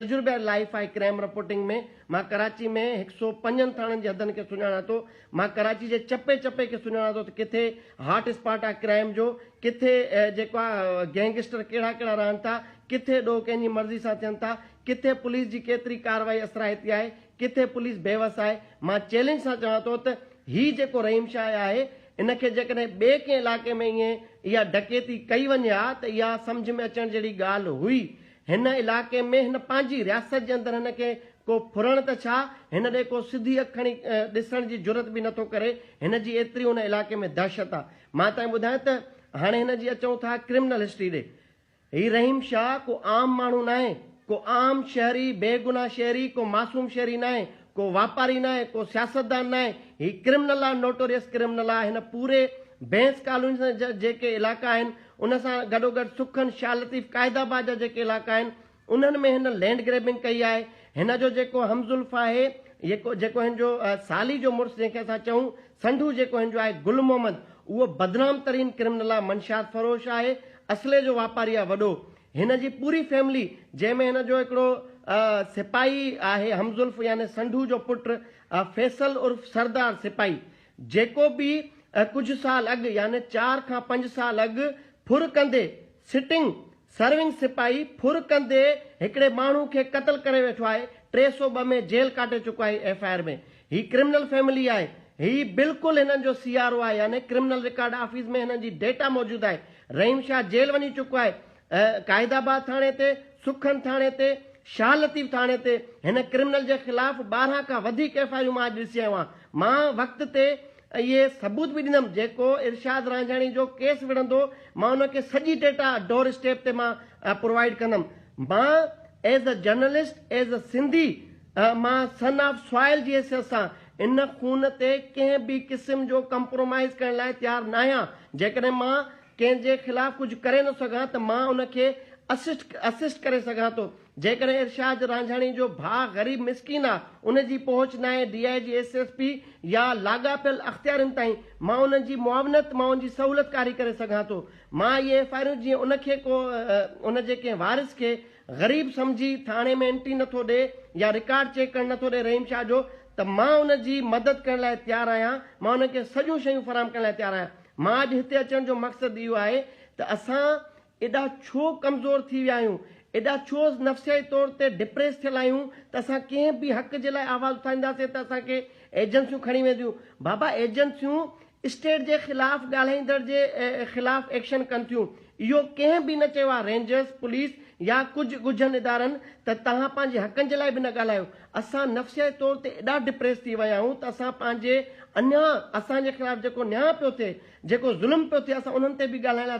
تجربه life آهي crime reporting ۾ مان ڪراچي ۾ هڪ سئو پنجن ٿاڻن جي حدن کي سڃاڻان ٿو مان ڪراچي جي چپي چپي کي سڃاڻان ٿو ته ڪٿي هاٽ اسپاٽ آهي ڪرائيم جو ڪٿي جيڪو آهي گينگسٽر ڪهڙا ڪهڙا رهن ٿا ڪٿي ڏوهه ڪنهن جي مرضي سان ٿين ٿا ڪٿي پوليس جي ڪيتري ڪارروائي اثرائتي آهي ڪٿي پوليس بيوس آهي مان چئلينج سان چوان ٿو ته هي جيڪو رحيم شاهه آهي ان کي جيڪڏهن ٻئي ڪنهن علائقي ۾ ائين اها ڊڪيتي ڪئي وڃي ها ته اها سمجهه ۾ اچڻ جهڙي ڳالهه هئي هن علائقي ۾ هن پنهنجي رياست جي اندر هن کي ڪو ڦرڻ ته ڇا، هن ڏي ڪو سڌي اک کڻي ڏسڻ جي جرئت به نٿو ڪري، هن جي ايتري ان علائقي ۾ دهشت آ. مان تائين ٻڌايان ته هاڻي هن جي اچون ٿا ڪرمنل هسٽري ڏي. هي رحيم شاهه ڪو عام ماڻهو ناهي، ڪو عام شهري، بي گناهه شهري، ڪو معصوم شهري ناهي، ڪو واپاري ناهي، ڪو سياستدان ناهي، هي ڪرمنل آهي، نوٽوريس ڪرمنل آهي، هن پوري بينس ڪالوني سان جا جيڪي علائقا آهن، ان سان گڏوگڏ سکن، شاهه لطيف، قائد آباد جا جيڪي علائقا آهن، انهن ۾ هن لينڊ گريبنگ ڪئي آهي، هن جو جيڪو همزلف آهي، جيڪو جيڪو هن جو سالي جو مڙس جنهن کي اسان چئون، سنڍو جيڪو هن جو آهي گل محمد، اهو بدنام ترين ڪرمنل آهي، منشيات فروش آهي، اسلحي جو واپاري آهي وڏو، هن جي پوري فيملي جنهن ۾ هن جو هڪڙو سپاهي آهي همزلف يعني سنڍوء جو پٽ فيصل عرف سردار سپاهي جيڪو به ڪجهه سال اڳ يعني چار کان پنج سال اڳ ڦر ڪندي، Sitting، سرونگ سپاهي ڦر ڪندي هڪڙي ماڻهو کي قتل ڪري ويٺو آهي ٽي سؤ ٻه ۾ جيل ڪاٽي چڪو آهي ايف آء آر ۾ هي ڪرمنل فيملي آهي. هي بلڪل هنن جو سي آر او آهي يعني ڪرمنل رڪارڊ آفيس ۾ هنن جي ڊيٽا موجود آهي. رحيم شاهه جيل وڃي چڪو آهي. قائد آباد ٿاڻي تي، سکن ٿاڻي تي، شاهه لطيف ٿاڻي تي هن ڪرمنل جي خلاف ٻارهن کان وڌيڪ ايف آء يون مان اڄ ڏسي آيو آهيان. مان وقت تي اهي ثبوت به ڏنم جيڪو ارشاد رانجهاڻي جو ڪيس وڙهندو مان ان کي سڄي ڊيٽا ڊور اسٽيپ تي مان پرووائيڊ ڪندم. مان as a journalist as a Sindhi. مان سن آف سوائل جي حيثيت سان ان خون تي ڪنهن به قسم جو ڪمپرومائيز ڪرڻ لاء تيار ناهيان، جيڪڏهن مان ڪنهن جي خلاف ڪجهه ڪري نه سگهان ته مان ان کي اسسٽ Assist ڪري سگهان ٿو، جيڪڏهن ارشاد رانجهاڻي جو ڀاء غريب مسڪين آ، ان جي پهچ ناهي D I G S S P يا لاڳاپيل اختيارين تائين، مان انهن جي معاونت مان ان جي سهولتڪاري ڪري سگهان ٿو، مان اهي ايف آء آرون جيئن ان کي ڪو ان جي ڪنهن وارث کي غريب سمجهي ٿاڻي ۾ انٽري نٿو ڏي يا رڪارڊ چيڪ ڪرڻ نٿو ڏي رحيم شاهه جو ته مان ان جي مدد ڪرڻ لاء تيار آهيان مان ان کي سڄيون شيون فراهم ڪرڻ لاء تيار آهيان مان اڄ هتي اچڻ جو مقصد اهو آهي ته اسان ايڏا ڇو ڪمزور ٿي ويا آهيون ايڏا ڇو نفسيائي طور تي ڊپريس ٿيل آهيون ته اسان ڪنهن به حق جي لاء آواز اٿارينداسين ته اسان کي ايجنسيون کڻي وينديون بابا ايجنسيون اسٽيٽ جي خلاف ڳالهائيندڙ جي خلاف ايڪشن ڪن ٿيون اهو ڪنهن به نه چيو آهي رينجرز پوليس يا ڪجهه ڳجهن ادارن ته توهان پنهنجي حقن جي لاء به نه ڳالهايو اسان نفسياتي طور تي ايڏا ڊپريس ٿي ويا آهيون ته اسان پنهنجي انيا اسان جي خلاف جيڪو نيا پيو ٿئي جيڪو ظلم پيو ٿئي اسان انهن تي به ڳالهائڻ لاء